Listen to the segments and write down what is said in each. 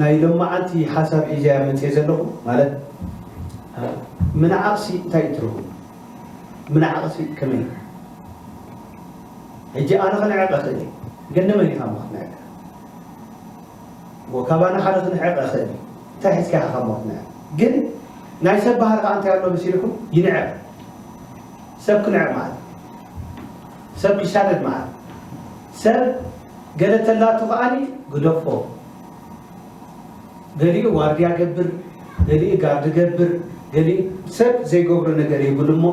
ናይ ሎማዓንቲ ሓሳብ ሒዘ እያ መፅየ ዘለኹ ማለት ምንዓቕሲ እንታይ እዩ ትርጉሙ ምንዓቕሲ ከመይ እዩ ሕጂ ኣነ ክንዕቕ እኽእል እየ ግን ንመን ኢኻ እሞ ክትንዕቅ እሞ ካባና ሓደ ክንዕቕ እኽእል እዩ እንታይ ሒዝካ ኢኻ ካብ ክትንዕቅ ግን ናይ ሰብ ባህሪ ከዓ እንታይ ኣሎ መሲልኩም ይንዕቕ ሰብ ክንዕቕ ማለት ሰብ ክሻደድ መዓት ሰብ ገለ ተላቱ ከኣ ግደፎ ገሊኡ ዋርድያ ገብር ገሊኡ ጋርዲ ገብር ገሊኡ ሰብ ዘይገብሮ ነገር ይብሉ እሞ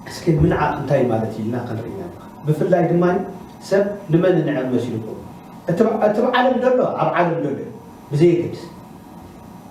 እስኪ ምንዓቕ እንታይ ማለት እዩ ኢልና ክንርኢና ብፍላይ ድማ ሰብ ንመን ንዕብ መሲልኩም እቲ ዓለም ደሎ ኣብ ዓለም ደሎ ብዘየገድስ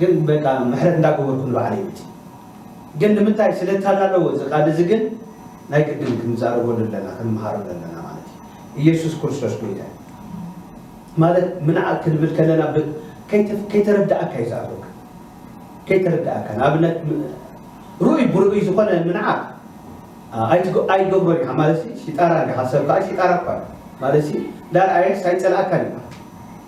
ግን በቃ ምሕረት እንዳገበርኩ ንባዕለይ መጺ ግን ንምንታይ ስለ ታላለዎ እዚ ቃል እዚ ግን ናይ ግድን ክንዛረበሉ ኣለና ክንምሃረሉ ኣለና ማለት እዩ ኢየሱስ ክርስቶስ ጎይታ እዩ ማለት ምንዓቅ ክንብል ከለና ከይተረዳእካ እዩ ዝኣትወካ ከይተረዳእካ ንኣብነት ርኡይ ብርኡይ ዝኾነ ምንዓቅ ኣይገብሮን ኢኻ ማለት ሽጣራ እንዲኻ ሰብ ከዓ ሽጣራ እኳ ማለት እንዳርኣየስ ኣይጸልኣካን እዩ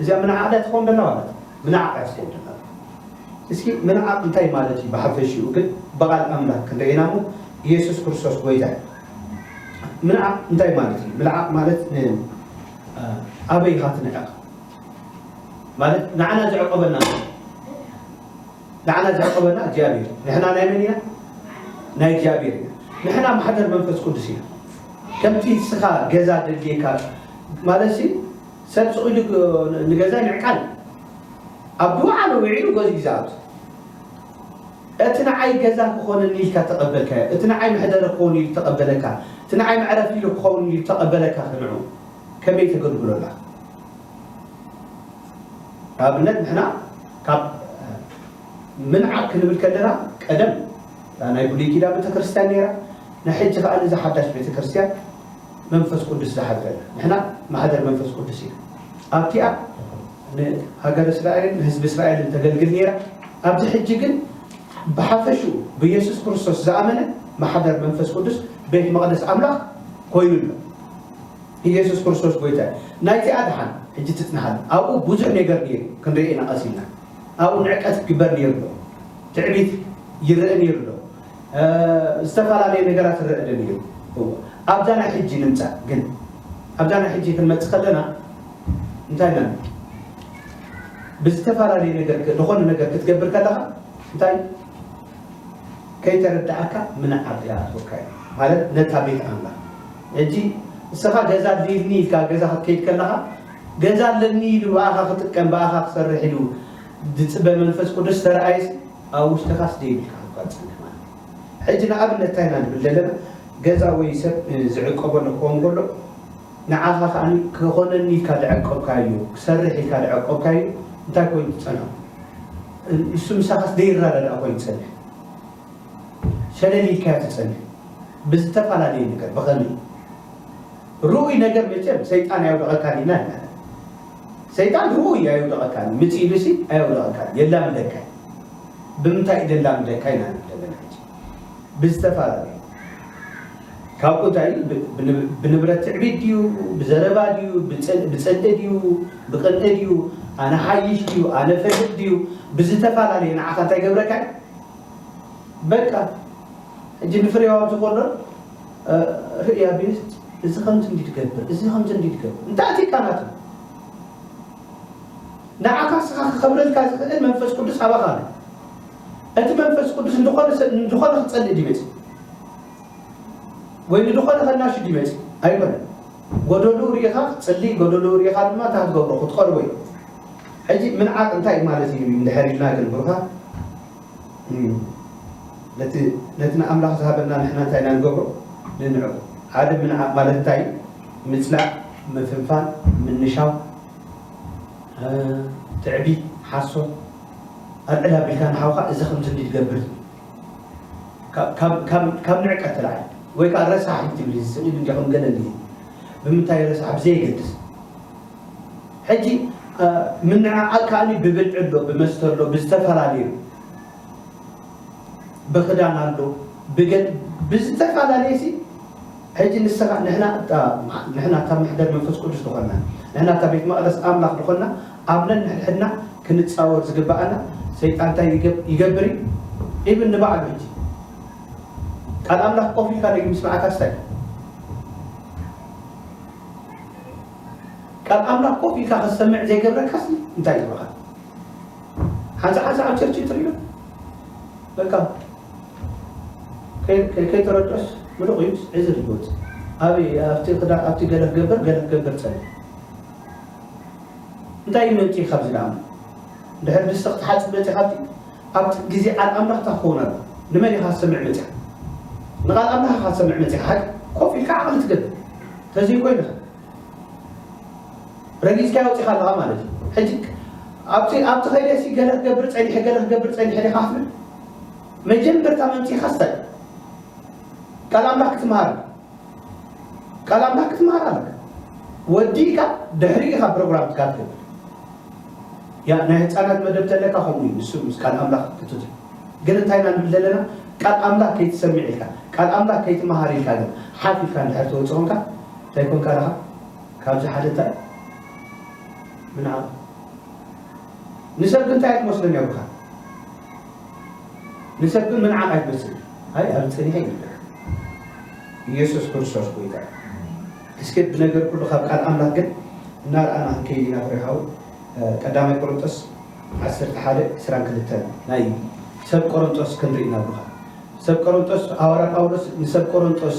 እዚኣ ምንዓቕ ድያ ትኸውን ደላ ማለት ምንዓቕ እያ ትኸውን ደላ እስኪ ምንዓቕ እንታይ ማለት እዩ ብሓፈሽኡ ግን ብቓል ኣምላክ ክንርኢ ኢና እሞ ኢየሱስ ክርስቶስ ጎይታ እዩ ምንዓቕ እንታይ ማለት እዩ ምልዓቕ ማለት ኣበይ ኢኻ ትንዕቕ ማለት ንዓና ዝዕቆበና ንዓና ዝዕቅበና እግዚኣብሔር እዩ ንሕና ናይ መን ኢና ናይ እግዚኣብሔር ኢና ንሕና ማሕደር መንፈስ ቅዱስ ኢና ከምቲ ንስኻ ገዛ ደልጌካ ማለት ሲ ሰብ ስቑኢሉ ንገዛ ይዕቃል ኣብ ድውዓሉ ውዒሉ ገዙ ይዛኣቱ እቲ ንዓይ ገዛ ክኾነኒ ኢልካ ተቐበልካዮ እቲ ንዓይ መሕደሪ ክኸውን ኢሉ ተቐበለካ እቲ ንዓይ መዕረፊ ኢሉ ክኸውን ኢሉ ተቐበለካ ክንዑ ከመይ ተገልግሎላ ንኣብነት ንሕና ካብ ምንዓቕ ክንብል ከለና ቀደም እታ ናይ ብሉይ ኪዳን ቤተክርስትያን ነይራ፣ ናይ ሕጂ ከኣ እዛ ሓዳሽ ቤተክርስትያን መንፈስ ቅዱስ ዝሓድረላ ንሕና ማሕደር መንፈስ ቅዱስ ኢና። ኣብቲኣ ንሃገረ እስራኤልን ንህዝቢ እስራኤልን ተገልግል ነይራ። ኣብዚ ሕጂ ግን ብሓፈሽኡ ብየሱስ ክርስቶስ ዝኣመነ ማሕደር መንፈስ ቅዱስ ቤት መቕደስ ኣምላኽ ኮይኑ ኣሎ። ኢየሱስ ክርስቶስ ጎይታ እዩ ናይዚኣ ድሓን ሕጂ ትጽንሓላ ኣብኡ ቡዙሕ ኔገር ኔሩ ክንሪኤ ኢና ቀስ ኢልና ኣብኡ ንዕቀት ክግበር ኔሩ ኣሎ ትዕቢት ይረእ ኔሩ ኣሎ ዝተፋላለየ ነገራት ይረእ ኣሎ ኔሩ እወ ኣብዛ ናይ ሕጂ ንምጻእ ግን ኣብዛ ናይ ሕጂ ክንመጽእ ከለና እንታይ ኢና ብዝተፋላለየ ነገር ዝኾነ ነገር ክትገብር ከለኻ እንታይ ከይተረዳኣካ ምንዓቅ ይኣትወካ እዩ ማለት ነታ ቤት ኣምላኽ ሕጂ ንስኻ ገዛ ኣድልዩኒ ኢልካ ገዛ ክትከይድ ከለኻ ገዛ ኣለኒ ኢሉ ብኣኻ ክጥቀም ብኣኻ ክሰርሕ ኢሉ ዝጽበ መንፈስ ቅዱስ ተርኣየሲ ኣብ ውሽጥኻስ ደይብልካ ክትኳ ትጽንሕ ማለት እዩ። ሕጂ ንኣብነት እንታይ ኢና ንብል ዘለና ገዛ ወይ ሰብ ዝዕቀበሉ ክኸውን ከሎ ንዓኻ ከኣ ክኾነኒ ኢልካ ዝዐቀብካዮ ክሰርሕ ኢልካ ዝዐቀብካዮ እንታይ ኮይኑ ትጸንሖ ንሱ ምሳኻስ ደይረዳዳእ ኮይኑ ዝጸንሕ ሸለል ኢልካዮ ትጸንሕ ብዝተፋላለየ ነገር ብኸመይ ርኡይ ነገር መቸም ሰይጣን ኣየውድቐካን ኢልና ኣይናለን ሰይጣን ርኡይ ኣየውድቐካን ምጽእ ኢሉሲ ኣየውድቐካን የላምደካ ብምንታይ እዩ ዘላምደካ ኢና ንብል ዘለና ሕጂ ብዝተፈላለዩ ካብኡ እንታይ ብንብረት ትዕቢት ድዩ ብዘረባ ድዩ ብፅልኢ ድዩ ብቅንኢ ድዩ ኣነ ሓይሽ ድዩ ኣነ ፈልጥ ድዩ ብዝተፈላለየ ንዓኻ እንታይ ገብረካ በቃ ሕጂ ንፍሬው ኣብዚ ኮሎን ርእይ ኣቢልት እዚ ከምዚ እንዲ ትገብር እዚ ከምዚ እንዲ ትገብር እንታይ ኣትካ ናቱ ንዓኻ ስኻ ክኸብረልካ ዝኽእል መንፈስ ቅዱስ ኣባኻ ኣሎ እቲ መንፈስ ቅዱስ ንድኾነ ሰብ ንድኾነ ክጸልእ ድመጽ ወይ ንድኾነ ከናሹ ድመጽ ኣይኮነን ጎደልኡ ርኢኻ ክትጽሊ ጎደልኡ ርኢኻ ድማ እንታይ ክትገብሮ ክትቐርቦ እዩ። ሕጂ ምንዓቕ እንታይ እዩ ማለት እዩ እንድሕር ኢልና ግን ብሩኻት ነቲ ነቲ ንኣምላኽ ዝሃበና ንሕና እንታይ ኢና ንገብሮ ንንዕቁ። ሓደ ምንዓቕ ማለት እንታይ እዩ? ምጽላእ፣ ምፍንፋን፣ ምንሻው፣ ትዕቢት፣ ሓሶት ኣልዕል ኣቢልካ ንሓውካ እዚ ከምዚ እንዲ ትገብር ካብ ንዕቀት ትለዓል ወይ ከኣ ረሳሕ እዩ ትብል እዚ ስድብ እንዲያ ከም ገለ እንዲየ ብምንታይ ረሳሕ ብዘየገድስ ሕጂ ምንዕቃል ከኣ ብብልዒ ኣሎ ብመስተ ኣሎ ብዝተፈላለዩ ብክዳን ኣሎ ብገ ብዝተፈላለየ ሲ ሕጂ ንሰኻ ንሕና እታ ምዓ ንሕና እታ መሕደር መንፈስ ቅዱስ ድኾንና ንሕና እታ ቤት መቅደስ ኣምላኽ ድኾንና ኣብ ነንሕድሕድና ክንጻወር ዝግብኣና ሰይጣን እንታይ ይገብ ይገብር እዩ ኢብን ንባዕሉ ሕጂ ቃል ኣምላኽ ቆፍ ኢልካ ደጊም ምስማዕካ ስታይ እዩ ቃል ኣምላኽ ቆፍ ኢልካ ክትሰምዕ ዘይገብረካስ እንታይ ይብኻ ሓንሳ ሓንሳ ኣብ ቸርች ትሪኢ ዶ በቃ ከይተረድኦስ ምሉቕ እዩስ ዕዝር እዩ ዝወፅእ ኣበይ ኣብቲ ክዳ ኣብቲ ገለ ክገብር ገለ ክገብር ፀልእ እንታይ እዩ መምፅኢ ካብዚ ደኣሞ ድሕር ድስቲ ክትሓፅብ መፅእ ካብቲ ኣብቲ ግዜ ቃል ኣምላኽ እታ ክኸውን ኣሎ ንመን ኢኻ ዝሰምዕ መፅኻ ንቓል ኣምላኽ ኢኻ ዝሰምዕ መፅኻ ሓቂ ኮፍ ኢልካ ዓቕሊ ትገብር ተዘይኮይንኻ ረጊጽካዮ ወጺኻ ኣለኻ ማለት እዩ። ሕጂ ኣብቲ ኣብቲ ከይደሲ ገለ ክገብር ጸኒሐ ገለ ክገብር ጸኒሐ ዲኻ ክትብል መጀመርታ መምጺኻ ስታይ ቃል ኣምላኽ ክትምሃር ቃል ኣምላኽ ክትምሃር ኣለካ ወዲእካ ድሕሪ ኢኻ ፕሮግራምትካ ትገብር ያ ናይ ህፃናት መደብ ተለካ ከምኡ እዩ ንሱ ምስ ቃል ኣምላኽ ክትት ግን እንታይ ኢና ንብል ዘለና ቃል ኣምላኽ ከይትሰምዕ ኢልካ ቃል ኣምላኽ ከይትምሃር ኢልካ ግን ሓፍ ኢልካ እንድሕር ተወፅኦ እንታይ ኮንካ ደኻ ካብዚ ሓደ እንታይ ምንዓቕ ንሰብ እንታይ ኣይትመስሎን እያ ብኻ ንሰብ ግን ምንዓቕ ኣይትመስል ኣይ ኣብ ፀኒሐ ይብልዕ ኢየሱስ ክርስቶስ ጎይታ እስኪ ብነገር ኩሉ ካብ ቃል ኣምላክ ግን እናርኣና ክንከይድ ኢና ፍሬሃው ቀዳማይ ቆሮንጦስ ዓሰርተ ሓደ ዕስራን ክልተን ናይ ሰብ ቆሮንጦስ ክንርኢ ኢና ብኻ ሰብ ቆሮንጦስ ሃዋርያ ጳውሎስ ንሰብ ቆሮንጦስ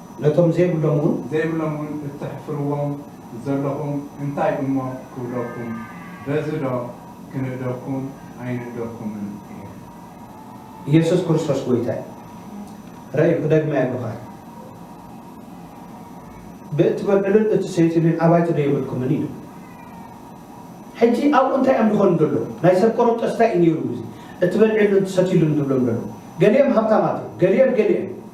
ነቶም ዘይብሎም እውን። ዘይብሎም እውን እተሕፍርዎም ዘሎኹም እንታይ እሞ ክብለኩም፣ በዚዶ ክንእደኩም ኣይንእደኩምን እየ። ኢየሱስ ክርስቶስ ጐይታ እዩ። ርእዩ፣ ክደግማ የብኻን። ብእትበልዕሉን እትሰትዩሉን ኣባይቲዶ የብልኩምን? ኢሉ። ሕጂ ኣብኡ እንታይ እዮም ዝኾኑ ዘለዉ? ናይ ሰብ ቆሮንጦስ እንታይ እዩ ነይሩ? እዚ እትበልዕሉን እትሰትዩሉን ዝብሎም ዘሎ። ገሊኦም ሃብታማት እዮም፣ ገሊኦም ገሊኦም።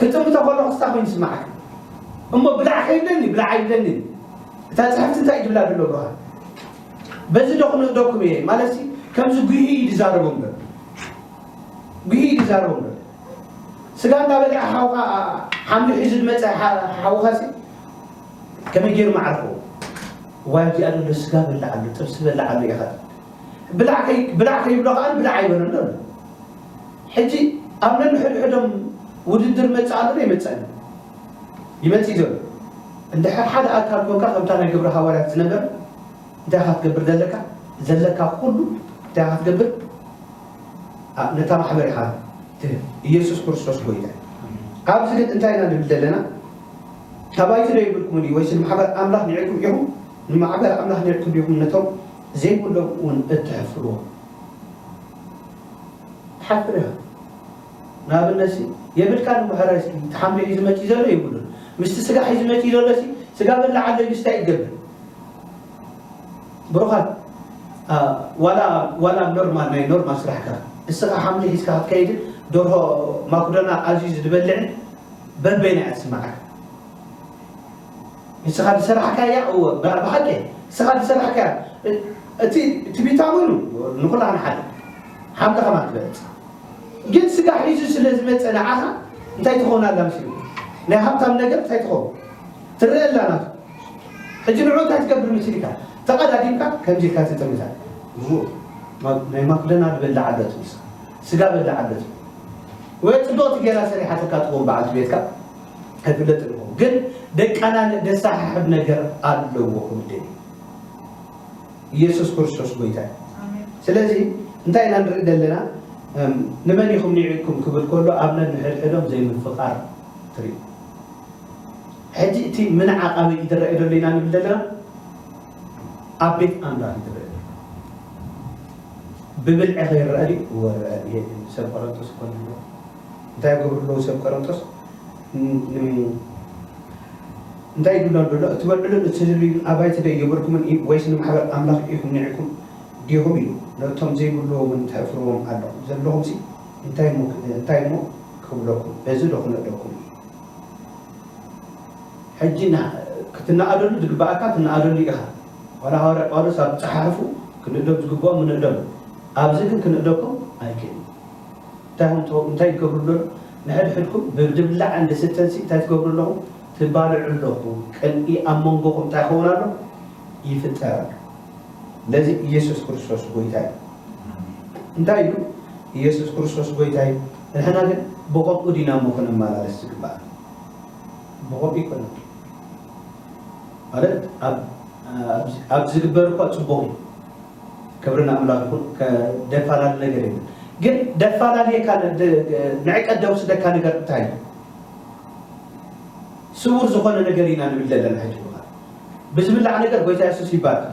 ክጥምቶ ከለኹ ስታ ኮይኑ ይስምዓካ እሞ ብላዕ ከይብለኒ ብላዕ ኣይብለንን እታ ጽሕፍቲ እንታይ እዩ ድብላ ደሎ ብርሃን በዚ ዶ ክንእደኩም እየ ማለትሲ ከምዚ ጉሂ እዩ ድዛረቦ እምበር ጉሂ እዩ ድዛረቦ እምበር ስጋ እንዳበልዐ ሓውካ ሓምሉ ሒዙ ዝመፀ ሓውካሲ ከመይ ገይሩ መዓርፎ ዋይ ኣብዚኣ ዘሎ ስጋ በላዕ ኣሎ ጥብሲ በላዕ ኣሎ ኢኻ ብላዕ ከይብሎ ከዓ ብላዕ ኣይበለሉ ኣሎ ሕጂ ኣብ ነንሕድሕዶም ውድድር መጽእ ኣሎዶ ኣይመጸእን ይመጽእ እዩ ዘሎ እንድሕር ሓደ ኣካል ኮንካ ከምታ ናይ ግብረ ሃዋርያት ዝነበረ እንታይ ኢኻ ክትገብር ዘለካ ዘለካ ኩሉ እንታይ ኢኻ ክትገብር ነታ ማሕበር ኢኻ ትህብ ኢየሱስ ክርስቶስ ጎይታ ኣብዚ ግን እንታይ ኢና ንብል ዘለና ተባይቲ ዶ ይብልኩምን እዩ ወይስ ንማሕበር ኣምላኽ ኒዕኩም ኢኹም ንማሕበር ኣምላኽ ኒዕኩም ኢኹም ነቶም ዘይብሎም እውን እትሕፍርዎ ትሓፍር ኢኻ ንኣብነትሲ የብልካን እሞ ሕራይ እስኪ እቲ ሓምሊ ሒዙ መፂኡ ዘሎ የብሉን ምስቲ ስጋ ሒዙ መፂኡ ዘሎሲ ስጋ በላዕ ኣሎ ኢሉስ እንታይ እዩ ክገብር ብሩኻት ዋላ ዋላ ኖርማል ናይ ኖርማል ስራሕካ እስኻ ሓምሊ ሒዝካ ክትከይድን ደርሆ ማክዶና ኣዝዩ ዝበልዕን በበይና እያ ትስማዓካ ንስኻ ዝሰራሕካያ እወ ብሓቂ ንስኻ ዝሰራሕካያ እቲ ትቢታ ውን ንኹላህና ሓደ ሓምሊ ከማን ትበልጽ ግን ስጋ ሒዙ ስለ ዝመጸ ንዓኻ እንታይ ትኸውን ኣላ ምስሉ ናይ ሃብታም ነገር እንታይ ትኸውን ትረአ ኣላ ናቱ ሕጂ ንዑ እንታይ ትገብር ምስልካ ተቐዳዲምካ ከምዚ ኢልካ ትጥምታ ናይ ማክዶናልድ በላዕ ኣሎት ንስኻ ስጋ በላዕ ኣሎት ወይ ጽብቕቲ ገይራ ሰሪሓትካ ትኸውን በዓልቲ ቤትካ ኣይፍለጥ ኣለኹ ግን ደቃላለ ደሳሓሕብ ነገር ኣለዎ ክብልደሊ ኢየሱስ ክርስቶስ ጎይታ ስለዚ እንታይ ኢና ንርኢ ዘለና ንመን ኢኹም ኒዕኩም ክብል ከሎ ኣብ ነንሕድሕዶም ዘይምፍቃር ትርኢ ሕጂ እቲ ምንዓቕ ኣበይ ይድረአ ደሎ ኢና ንብል ዘለና ኣብ ቤት ኣምላኽ ይድረአ ብብልዒ ከይረአ ድዩ ወረአ ሰብ ቆረንጦስ ኮነ እንታይ ይገብሩ ኣለዉ ሰብ ቀረንጦስ እንታይ ይብሉ ኣሎ እትበልዕሉን እትዝርዩን ኣባይቲ ዶ የብልኩምን እዩ ወይስ ንማሕበር ኣምላኽ ኢኹም ኒዕኩም ዲኹም ኢሉ ነቶም ዘይብልዎምን ተሕፍርዎም ኣለኹም ዘለኹምሲ እንታይ እሞ እንታይ እሞ ክብለኩም በዚ ዶ ክነደኩም እዩ ሕጂ ክትነኣደሉ ዝግብኣካ ትነኣደሉ ኢኻ ዋላ ሃዋርያ ጳውሎስ ኣብ ጸሓሕፉ ክንእደብ ዝግብኦም ንእደብ ኣብዚ ግን ክንእደኩም ኣይክእልን እንታይ ውን ትበልዑ እንታይ ትገብሩ ኣለኹም ንሕድሕድኩም ብድብላዕን ድስትን ሲ እንታይ ትገብሩ ኣለኹም ትባልዑ ኣለኹም ቅንኢ ኣብ መንጎኹም እንታይ ይኸውን ኣሎ ይፍጠር ኣሎ ለዚ ኢየሱስ ክርስቶስ ጎይታ እዩ እንታይ እዩ ኢየሱስ ክርስቶስ ጎይታ እዩ ንሕና ግን ብኸምኡ ዲና እሞ ክንመላለስ ዝግባእ ብኸምኡ ይኮነ ማለት ኣብ ዝግበር እኳ ፅቡቕ እዩ ክብሪ ንኣምላክ ይኩን ከደፋላሊ ነገር የብሉን ግን ደፋላልየካ ንዕቀት ደውስደካ ነገር እንታይ እዩ ስውር ዝኮነ ነገር ኢና ንብል ዘለና ሕጂ ብካ ብዝብላዕ ነገር ጎይታ የሱስ ይባርክ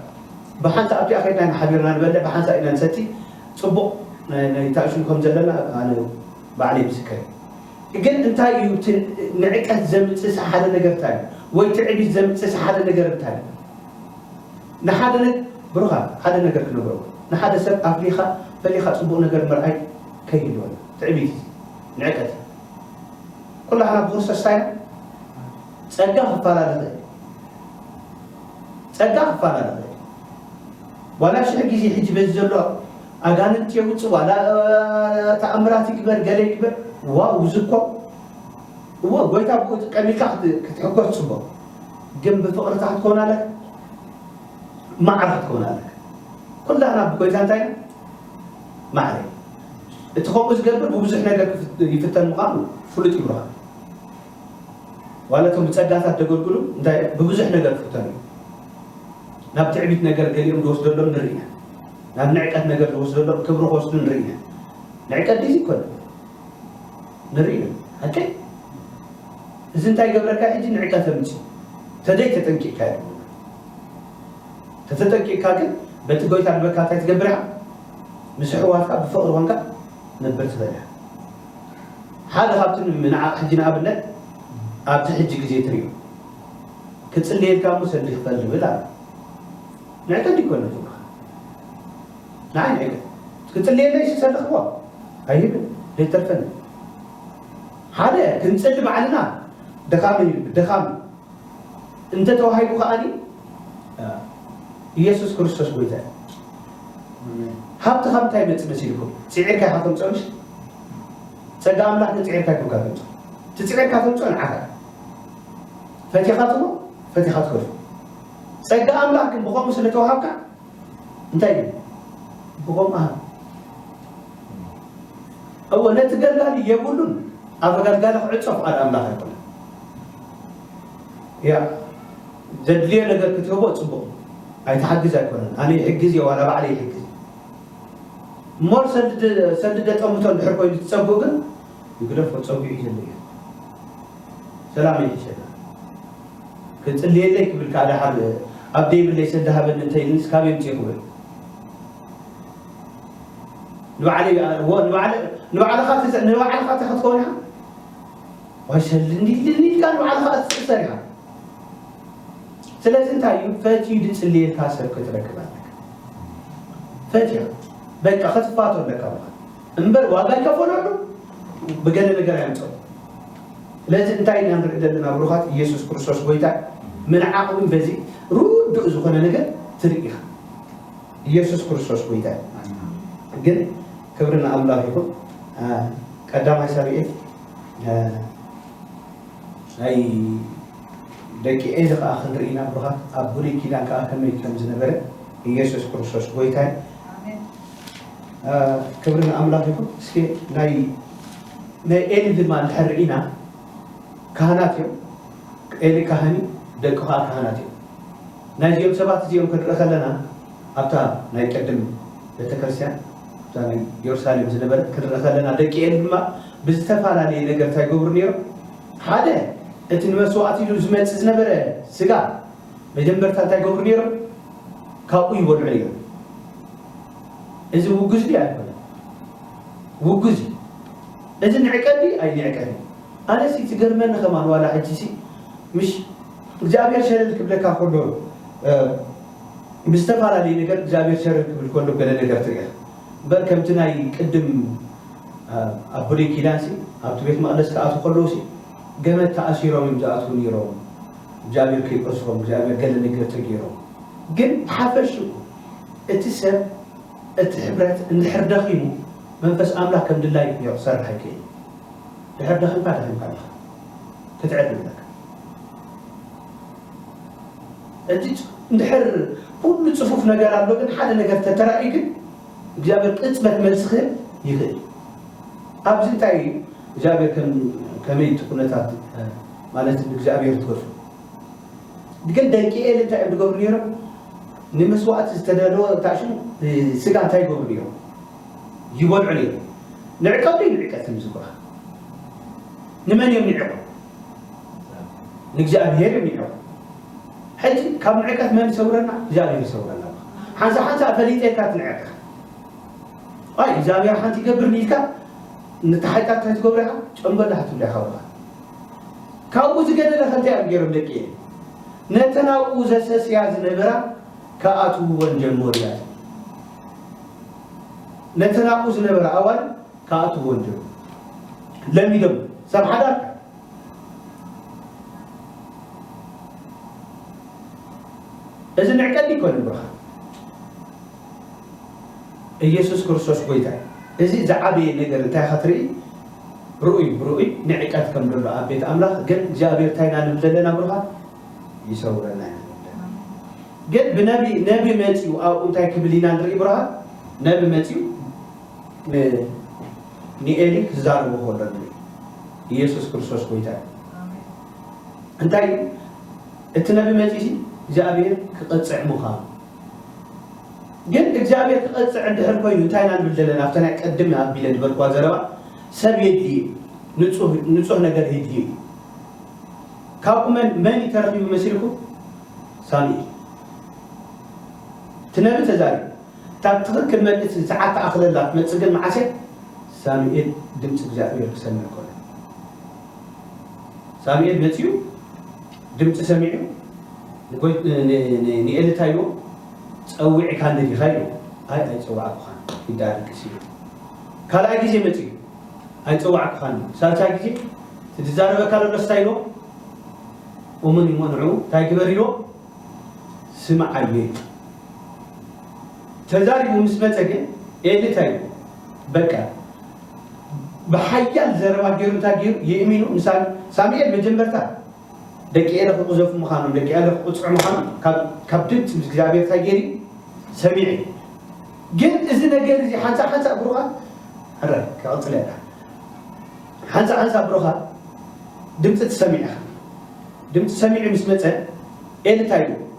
ብሓንሳ ኣብቲኣ ከድና ኢና ሓቢርና ንበልዕ ብሓንሳ ኢና ንሰቲ ጽቡቅ ናይ ታእሹም ከም ዘለና ኣነ ባዕለይ ምስከር ግን እንታይ እዩ ንዕቀት ዘምጽእ ሓደ ነገር እንታይ እዩ ወይ ትዕቢት ዘምጽእ ሓደ ነገር እንታይ እዩ ንሓደ ን ብሩኻት ሓደ ነገር ክነግሮም ንሓደ ሰብ ኣፍሊኻ ፈሊኻ ጽቡቕ ነገር ምርኣይ ከይህልወና ትዕቢት እዚ ንዕቀት እዩ ኩላህና ብክርስቶስ ታይና ጸጋ ክፋላ ንኽእል እዩ ጸጋ ክፋላ ንኽእል እዩ ዋላ ሽሕ ግዜ ሕጂ በዚ ዘሎ ኣጋንንት የውጽእ ዋላ ተኣምራት ይግበር ገለ ይግበር ዋው ዝኮ እወ ጎይታ ብኡ ይጥቀም ኢልካ ክትሕጎስ ጽቡቅ ግን ብፍቅርታ ክትከውን ኣለካ ማዕረ ክትከውን ኣለካ ኩላህና ብጎይታ እንታይ ኢና ማዕረ እቲ ከምኡ ዝገብር ብብዙሕ ነገር ይፍተን ምዃኑ ፍሉጥ እዩ ብርሃን ዋላ እቶም ብጸጋታት ደገልግሉ እንታይ ብብዙሕ ነገር ክፍተኑ እዩ ናብ ትዕቢት ነገር ገሊኦም ዝወስደሎም ንርኢ ኢና ናብ ንዕቀት ነገር ዝወስደሎም ክብሪ ክወስዱ ንርኢ ኢና ንዕቀት ዲዚ ይኮነ ንርኢ ኢና ሓቀይ እዚ እንታይ ገብረካ ሕጂ ንዕቀ ተምጽእ ተደይ ተጠንቂቅካ ዩ ተተጠንቂቅካ ግን በቲ ጎይታ ድበካ እንታይ ትገብር ኢኻ ምስ ኣሕዋትካ ብፍቕሪ ኮንካ ነብር ትኽእል ኢኻ ሓደ ካብቲ ንዓቕ ሕጂ ንኣብነት ኣብቲ ሕጂ ግዜ ትሪኦ ክጽልየልካ እሞ ሰዲ ክፈል ዝብል ኣሎ ንዕቀ እንዲኮነ ንዓይ ንዒለይ ክጽልየለይ ዝሰለኽዎ ኣይህብን ዘይተርፈኒ ሓደ ክንጽሊ ባዕልና ደኻም እዩ ደኻም እንተ ተዋሂቡ ከኣኒ ኢየሱስ ክርስቶስ ጎይታ እዩ ሃብቲ ካብ እንታይ ይመጽእ መሲልኩም ጽዒርካ ኢኻ ተምጽኦሽ ጸጋ ኣምላኽ ግን ጽዒርካ ይኩንካ ተምጽኦ እቲ ጽዒርካ ተምጽኦ ንዓኻ ፈቲኻ ትቦ ፈቲኻ ትከፍእ ጸጋ ኣምላኽ ግን ብኸምኡ ስለ ተዋሃብካ እንታይ ግን ብኸምኡ ሃብ እወ ነቲ ደላሊ የብሉን ኣበጋት ጋላ ክዕጾ ፍቓድ ኣምላኽ ኣይኮነ ያ ዘድልዮ ነገር ክትህቦ ጽቡቕ ኣይትሓግዝ ኣይኮነን ኣነ ይሕግዝ እየ ዋላ ባዕለ ይሕግዝ እሞ ሰልደ ጠምቶ እንድሕር ኮይኑ ትጸብኡ ግን ንግደፎ ጸዊዑ ዘሎ ኢዩ ሰላመይ ሒሸላ ክጽልየለይ ክብል ከኣ ደሓር ኣብ ደይብለይ ሰዲ ሃበኒ እንተ ኢልንስ ካበይ ኣምጺኡ ክብል ንባዕለይ ንባዕልኻ ንባዕልኻ እተ ክትከውን ኢኻ ዋይ ሰሊ እንዲልኒ ኢልካ ንባዕልኻ እትስእሰር ኢኻ ስለዚ እንታይ እዩ ፈትዩ ድጽልየልካ ሰብ ክትረክብ ኣለካ ፈትያ በቃ ክትፋቶ ኣለካ እምበር ዋጋ ይከፈለሉ ብገለ ነገር ኣየምጽኦ ስለዚ እንታይ ኢና ንርኢ ዘለና ብሩኻት ኢየሱስ ክርስቶስ ጎይታ ምንዓቕ እውን በዚ ርዱእ ዝኾነ ነገር ትርኢ ኢኻ ኢየሱስ ክርስቶስ ጎይታ ግን ክብሪ ንኣምላኽ ይኹን ቀዳማይ ሳብኤል ናይ ደቂ ኤዚ ከዓ ክንርኢ ኢና ብሩኻት ኣብ ብሉይ ኪዳን ከዓ ከመይ ከም ዝነበረ ኢየሱስ ክርስቶስ ጎይታ ክብሪ ንኣምላኽ ይኹን እስከ ናይ ናይ ኤሊ ድማ እንድሕር ርኢና ካህናት እዮም ኤሊ ካህን እዩ ደቂ ከዓ ካህናት እዮም ናይዚኦም ሰባት እዚኦም ክንርኢ ከለና ኣብታ ናይ ቅድም ቤተክርስትያን እታ ናይ ኢየሩሳሌም ዝነበረት ክንርኢ ከለና ደቂ ኤሊ ድማ ብዝተፈላለየ ነገር እንታይ ይገብሩ ነይሮም ሓደ እቲ ንመስዋእቲ ኢሉ ዝመፅእ ዝነበረ ስጋ መጀመርታ እንታይ ይገብሩ ነይሮም? ካብኡ ይበልዑ ነይሮም። እዚ ውጉዝ ድዩ ኣይኮነን? ውጉዝ እዩ። እዚ ንዕቀት ድዩ ኣይንዕቀትን እዩ? ኣነሲ ትገርመኒ ከማን ዋላ ሕጂሲ ምሽ እግዚኣብሔር ሸለል ክብለካ ከሎ ብዝተፈላለየ ነገር እግዚኣብሔር ሸለል ክብል ከሎ ገለ ነገር ትርኢ ኢኻ እምበር ከምቲ ናይ ቅድም ኣብ ብሉይ ኪዳንሲ ኣብቲ ቤት መቕደስ ክኣትዉ ከለውሲ ገመድ ተኣሲሮም እዮም ዝኣትዉ ነይሮም እግዚኣብሔር ከይቆጽሮም እግዚኣብሔር ገለ ነገር ተገይሮም ግን ሓፈሽኡ እቲ ሰብ እቲ ሕብረት እንድሕር ደኺሙ መንፈስ ኣምላኽ ከም ድላዩ ክዮ ክሰርሕ ኣይክእል ድሕር ደኺምካ ደኺምካ ኣለኻ ክትዕድ ኣለካ እቲ እንድሕር ኩሉ ጽፉፍ ነገር ኣሎ ግን ሓደ ነገር ተተራእዩ ግን እግዚኣብሔር ቅጽበት መልሲ ክህብ ይኽእል ኣብዚ እንታይ እዩ እግዚኣብሔር ከመይ እቲ ኩነታት ማለት ንእግዚኣብሔር ትገዝኡ። ግን ደቂ ኤሊ እንታይ እዮም ዝገብሩ ነይሮም? ንመስዋእቲ ዝተዳለወ ታሽን ስጋ እንታይ ይገብሩ ነይሮም? ይበልዑ ነይሮም። ንዕቀት ድዩ ንዕቀት ምስጉራ? ንመን እዮም ንዕቁ? ንእግዚኣብሔር እዮም ንዕቁ። ሕጂ ካብ ንዕቀት መን ይሰውረና? እግዚኣብሔር ይሰውረና። ሓንሳ ሓንሳ ፈሊጠ ኢልካ ትንዕቅ ኣይ እግዚኣብሔር ሓንቲ ይገብር ኢልካ ንታሓይታት እንታይ ትገብሩ ኢኻ? ጨንበላህ ትብሉ ኢኻ ካብኡ ዝገደደ ከ እንታይ እዮም ገይሮም ደቅየ ነተን ኣብኡ ዘሰስያ ዝነበራ ክኣትውወን ጀመሩ እያ ትብል ነተን ኣብኡ ዝነበራ ኣዋል ክኣትውወን ጀመሩ ለሚዶም ሰብ ሓዳር እዚ መዕቀኒ ይኮነ ብርኻ ኢየሱስ ክርስቶስ ጎይታ እዩ እዚ ዝዓበየ ነገር እንታይ ኸትርኢ ርኡይ ብርኡይ ንዕቀት ከም ደሎ ኣብ ቤት ኣምላኽ ግን እግዚኣብሔር ታይ ኢና ንብል ዘለና ብሩኻት ይሰውረና ኢና ንብል ዘለና ግን ብነቢ ነቢ መጺኡ ኣብኡ እንታይ ክብል ኢና ንርኢ ብሩኻት ነቢ መጺኡ ን ንኤሊ ክዛረቦ ከሎ ንርኢ ኢየሱስ ክርስቶስ ጎይታ እንታይ እዩ እቲ ነቢ መጺኡ እግዚኣብሔር ክቐጽዕ ምዃኑ ግን እግዚኣብሔር ክቐጽዕ እንድሕር ኮይኑ እንታይ ኢና ንብል ዘለና ኣብታ ናይ ቀድም ኣቢለ ዝበልክዋ ዘረባ ሰብ የድሊ እዩ ንጹህ ንጹህ ነገር የድሊ እዩ ካብኡ መን መን እዩ ተረኺቡ መሲልኩም ሳሙኤል እቲ ነቢ ተዛሪቡ እታ ትኽክል መልእቲ ሰዓት ተኣኽለላ ክትመጽእ ግን መዓስ እያ ሳሙኤል ድምፂ እግዚኣብሔር ክሰምዕ ኮነ ሳሙኤል መጺኡ ድምጺ ሰሚዑ ንኤሊ እንታይ ኢልዎ ጸዊዕካኒ ዲኻ ኢልዎ ኣይ ኣይጸዋዕኩኻን ግዲ ኣለክስ ኢልዎ ካልኣይ ግዜ መጺኡ ኣይጸዋዕኩኻን ኢልዎ ሳልሳይ ግዜ እቲ ዝዛረበካ ዘሎስ እንታይ ኢልዎ እሙን እዩሞ ንዕኡ እንታይ ግበር ኢልዎ ስምዓዮ ኢልዎ ተዛሪቡ ምስ መጸ ግን ኤሊ እንታይ ኢልዎ በቃ ብሓያል ዘረባ ጌሩ እንታይ ጌሩ የእሚኑ ንሳሚ ሳሚኤል መጀመርታ ደቂ ኤረ ክቁዘፉ ምዃኖም ደቂ ኤረ ክቁፅዑ ምዃኖም ካብ ድምፂ ምስ እግዚኣብሔር እንታይ ጌሩ ሰሚዑ እዩ ግን እዚ ነገር እዚ ሓንሳ ሓንሳ ብሩኻት ሕረ ክቕፅለ እያ ሓንሳ ሓንሳ ብሩኻት ድምፂ ትሰሚዕ ኢኻ ድምፂ ሰሚዑ ምስ መፀ ኤሊ እንታይ ኢሉ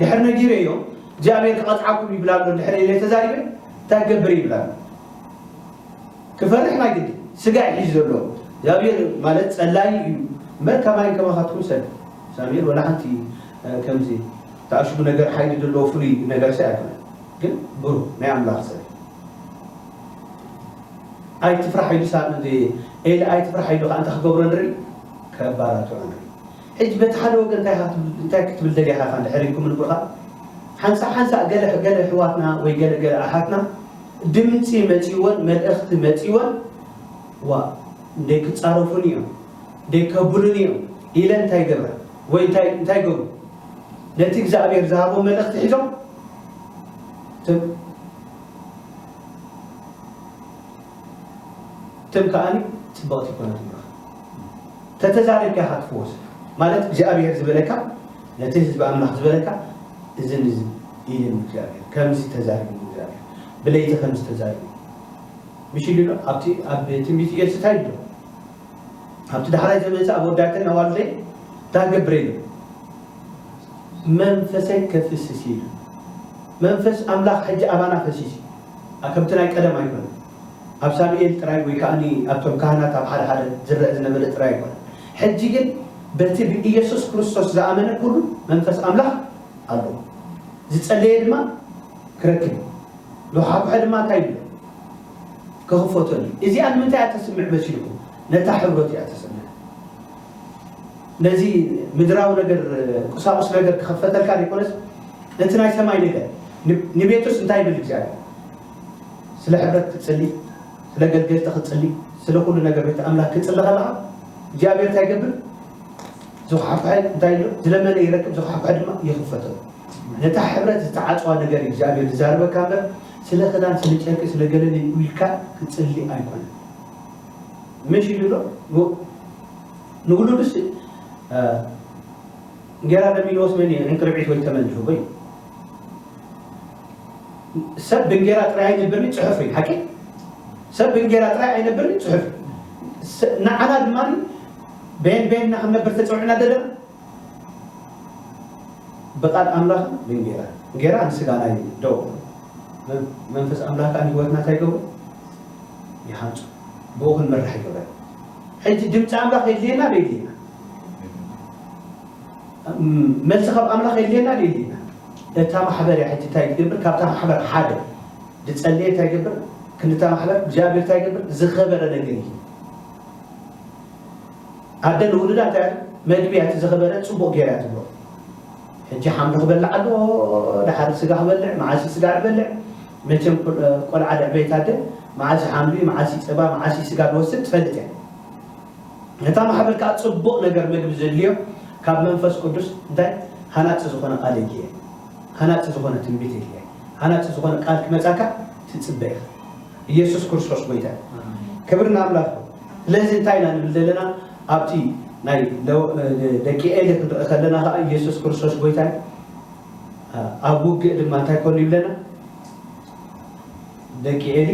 ድሕር ነጊረዮ እግዚኣብሔር ክቐጽዓኩም ይብል ኣሎ እንድሕር ኢለ ተዛሪበ እንታይ ክገብር ይብል ኣሎ ክፈርሕ ናይ ግዲ ስጋ እዩ ሒዙ ዘሎ እግዚኣብሔር ማለት ጸላዩ እዩ እምበር ከማይ ከማኻትኩም ሰብ እግዚኣብሔር ወላ ሓንቲ ከምዚ ተኣሽጉ ነገር ሓይሊ ዘለዎ ፍሉይ ነገር ሰ ኣይኮነ ግን ብሩ ናይ ኣምላኽ ሰብ ኣይትፍራሕ ኢሉ ሳ ኤሊ ኣይትፍራሕ ኢሉ ከዓ እንታይ ክገብሮ ንርኢ ከባራቱ ንርኢ ሕጂ በቲ ሓደ ወገን እንታይ ኢኻ ክትብል እንታይ ክትብል ደሊኻ ኢኻ እንድሕር ኢልኩም ንብርኻ ሓንሳእ ሓንሳእ ገለ ገለ ኣሕዋትና ወይ ገለ ገለ ኣሓትና ድምጺ መጺወን መልእኽቲ መጺወን ዋእ እንዴ ክጻረፉኒ እዮም እንዴ ከብሉኒ እዮም ኢለን እንታይ ይገብራ ወይ እንታይ እንታይ ይገብሩ ነቲ እግዚኣብሔር ዝሃቦም መልእኽቲ ሒዞም ትም ከኣኒ ጽብቕቲ ይኮነት ተተዛሪብካ ኢኻ ትፍወስ ማለት እግዚኣብሄር ዝበለካ ነቲ ህዝቢ ኣምላኽ ዝበለካ እዝን እዝን ኢልኒ እግዚኣብሄር ከምዚ ተዛሪብኒ እግዚኣብሄር ብለይቲ ከምዚ ተዛሪብኒ ምሽ ኢሉ ኣብቲ ኣብ ትንቢት ኢየሱስ እንታይ ኢሉ ኣብቲ ዳሕራይ ዘመንሰ ኣብ ወዳተን ኣዋልደይ እንታይ ገብረ ኢሉ መንፈሰይ ከፍስስ ኢሉ መንፈስ ኣምላኽ ሕጂ ኣባና ፈሲስ ከምቲ ናይ ቀደም ኣይኮነ ኣብ ሳሙኤል ጥራይ ወይ ከኣ ኣብቶም ካህናት ኣብ ሓደ ሓደ ዝረእ ዝነበለ ጥራይ ኣይኮነን። ሕጂ ግን በቲ ብኢየሱስ ክርስቶስ ዝኣመነ ኩሉ መንፈስ ኣምላኽ ኣለዎ። ዝጸለየ ድማ ክረክብ እዩ። ዝዃሕኩሐ ድማ እንታይ ይብሎ? ክኽፈተሉ እዩ። እዚኣ ንምንታይ እያ ተስምዕ መሲልኩም? ነታ ሕብሮት እያ ተስምዕ። ነዚ ምድራዊ ነገር ቁሳቁስ ነገር ክኽፈተልካ ዘይኮነስ ነቲ ናይ ሰማይ ነገር ንቤቱስ እንታይ ይብል እግዚኣብሔር? ስለ ሕብረት ክትጽሊ ስለ ገልገልቲ ክትጽሊ ስለ ኩሉ ነገር ቤተ ኣምላክ ክትጽሊ ከለካ እግዚኣብሔር እንታይ ይገብር ዝኳሕኳሐ እንታይ ኣሎ ዝለመነ ይረክብ ዝኳሕኳሐ ድማ ይኽፈቶ ነታ ሕብረት ዝተዓጽዋ ነገር እግዚኣብሔር ዝዛርበካ እምበር ስለ ክዳን ስለ ጨርቂ ስለ ገለል ኢልካ ክትጽሊ ኣይኮነ ምሽ ኢሉ ሎ ንውሉድስ እንጌራ ለሚንዎስ መን ዕንቅርቢት ወይ ተመን ዝህቦ እዩ ሰብ ብእንጌራ ጥራይ ኣይነብርን እዩ ጽሑፍ እዩ ሓቂ ሰብ ብእንጌራ ጥራይ ኣይነብርን እዩ ጽሑፍ ንዓና ድማ ቤን ቤንና ክንነብር ተጸውዕና ደለና ብቃል ኣምላኽ ብእንጌራ እንጌራ ንስጋና እዩ ደው መንፈስ ኣምላኽ ከዓ ንህይወትና እንታይ ይገብሩ ይሃንጹ ብኡ ክንመራሕ ይገብረ ሕጂ ድምፂ ኣምላኽ የድልየና ዶ የድልየና መልሲ ካብ ኣምላኽ የድልየና ድዩ የድልየና እታ ማሕበር እያ ሕጂ እንታይ ትገብር ካብታ ማሕበር ሓደ ዝጸለየ እንታይ ይገብር ክንድታ ማሕበር እግዚኣብሔር እንታይ ይገብር ዝኸበረ ነገር እዩ ኣደ ንውሉዳ እንታይ መግቢ እያ እቲ ዝኸበረ ጽቡቕ ጌራ ትብሎ ሕጂ ሓምሊ ክበልዕ ኣሎ ድሓር ስጋ ክበልዕ መዓሲ ስጋ ክበልዕ መቸም ቆልዓ ድዕበይት ኣደ መዓሲ ሓምሊ መዓሲ ጸባ መዓሲ ስጋ ዝወስድ ትፈልጥ እያ ነታ ማሕበር ከኣ ጽቡቅ ነገር መግቢ ዘድልዮ ካብ መንፈስ ቅዱስ እንታይ ሃናጺ ዝኮነ ቃል የድልየ ሃናጺ ዝኮነ ትንቢት የድልየ ሃናጺ ዝኮነ ቃል ክመጻካ ትጽበ ኢካ ኢየሱስ ክርስቶስ ጎይታ እዩ ክብር ንኣምላኽ ስለዚ እንታይ ኢና ንብል ዘለና ኣብቲ ናይ ደቂ ኤሊ ክንርኢ ከለና ከኣ ኢየሱስ ክርስቶስ ጎይታ እዩ ኣብ ውግእ ድማ እንታይ ኮኑ ይብለና ደቂ ኤሊ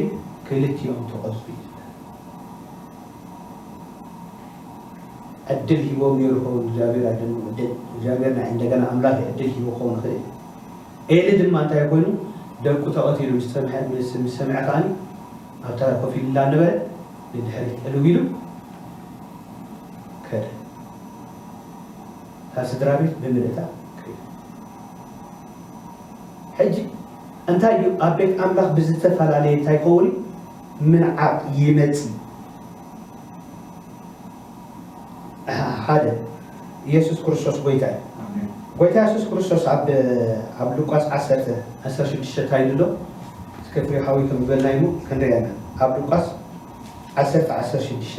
ክልቲኦም ተቐዝቡ እዩ ዕድል ሂቦም ኔሩ ይኸውን እግዚኣብሄር ኣይደልኩም ዕድል እግዚኣብሄር ናይ እንደገና ኣምላክ እዩ ዕድል ሂቡ ክኸውን ይኽእል እዩ ኤሊ ድማ እንታይ ኮይኑ ደቁ ተቐቲሉ ምስ ሰምሐ ምስ ምስ ሰምዐ ከኣኒ ኣብ ተራ ኮፍ ኢሉ እንዳነበረ ንድሕሪት ዕልው ኢሉ ከደ እታ ስድራ ቤት ብምልእታ ከይዱ ሕጂ እንታይ እዩ ኣብ ቤት ኣምላኽ ብዝተፈላለየ እንታይ ይኸውን እዩ ምንዓቕ ይመጺ። እህ ሓደ ኢየሱስ ክርስቶስ ጎይታ እዩ። ጎይታ ኢየሱስ ክርስቶስ ኣብ ኣብ ሉቃስ ዓሰርተ ዓሰርተ ሽዱሽተ ታይ ኢሉ ኣሎ እስከ ፍሬ ሓዊ ከም ዝበልና ይሙ ክንሪኣ ኢና ኣብ ሉቃስ ዓሰርተ ዓሰርተ ሽዱሽተ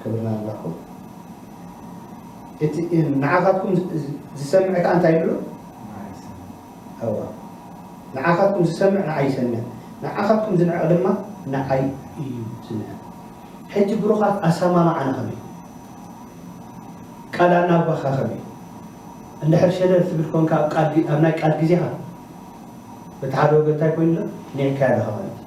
ክብልና ኣለኹ እቲ ንዓኻትኩም ዝሰምዕ ከኣ እንታይ ይብሎ ኣዋ ንዓኻትኩም ዝሰምዕ ንዓይ ይሰምዕ ንዓኻትኩም ዝንዕቕ ድማ ንዓይ እዩ ዝንዕቕ ሕጂ ብሩኻት ኣሰማምዓና ከመይ ቃል ኣናባኻ ከመይ እንድሕር ሸለል ትብል ኮንካ ኣብ ናይ ቃል ግዜኻ በቲ ሓደ ወገን እንታይ ኮይኑ ኣሎ ኒዕካዮ ኣለኻ ማለት እዩ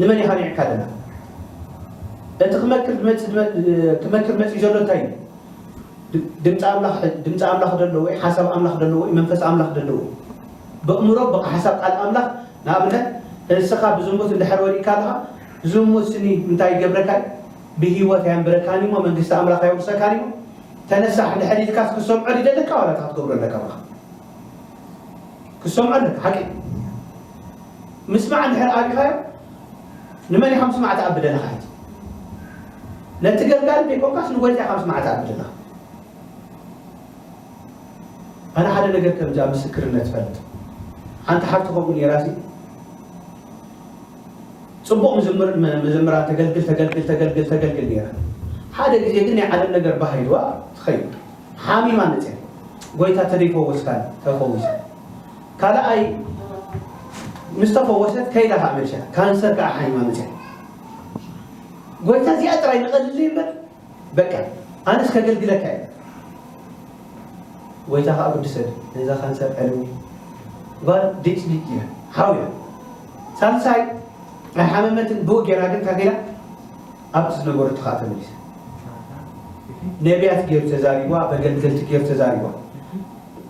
ንመን ኢኻ ኒዕካ ደላ እቲ ክመክር ድመጽእ ክመክር መጽዩ ዘሎ እንታይ እዩ ድምጺ ኣምላኽ ድምጺ ኣምላኽ ደለዎ እዩ ሓሳብ ኣምላኽ ደለዎ እዩ መንፈስ ኣምላኽ ደለዎ በእምሮ በቃ ሓሳብ ቃል ኣምላኽ ንኣብነት እንስኻ ብዝሙት እንድሕር ወዲቅካ ኣለኻ ዝሙት ስኒ እንታይ ይገብረካ ብህይወት ኣየንብረካን እሞ መንግስቲ ኣምላኽ ኣየውርሰካን እሞ ተነሳሕ እንድሕር ኢልካስ ክሰምዖ ድደለካ ዋላ እንታይ ክትገብሮ ኣለካ በኻ ክትሰምዖ ኣለካ ሓቂ እዩ ምስማዕ እንድሕር ኣቢኻዮ ንመን ኢኻ ምስማዕ ትኣቢ ዘለኻ ሕጂ ነቲ ገርጋሪ ዘይኮንካስ ንጎይታ ኢኻ ምስማዕ ትኣቢ ዘለኻ ኣነ ሓደ ነገር ከምዚ ኣብ ምስክርነት ፈልጥ ሓንቲ ሓብቲ ከምኡ ነይራሲ ፅቡቕ ምዝምር መዘምራ ተገልግል ተገልግል ተገልግል ተገልግል ነይራ ሓደ ግዜ ግን ናይ ዓለም ነገር ባህይዋ ትኸይድ ሓሚማ መጽያ ጎይታ ተደይፈወስካን ተፈዊሳ ካልኣይ ምስ ተፈወሰት ከይዳ ከዓ መርሻ ካንሰር ከዓ ሓሚማ መጽያ ጎይታ እዚኣ ጥራይ ንቐልልይ እምበር በቃ ኣነስ ከገልግለካ እየ ጎይታ ከዓ ግድሰድ ነዛ ካንሰር ዕልሚ ጓል ዴጭ ዲጭ እያ ሓውያ ሳልሳይ ኣይሓመመትን ብኡ ጌራ ግን ካገላ ኣብ ዝነበረትኻ ተመሊሰ ነብያት ገይሩ ተዛሪብዋ በገልገልቲ ገይሩ ተዛሪብዋ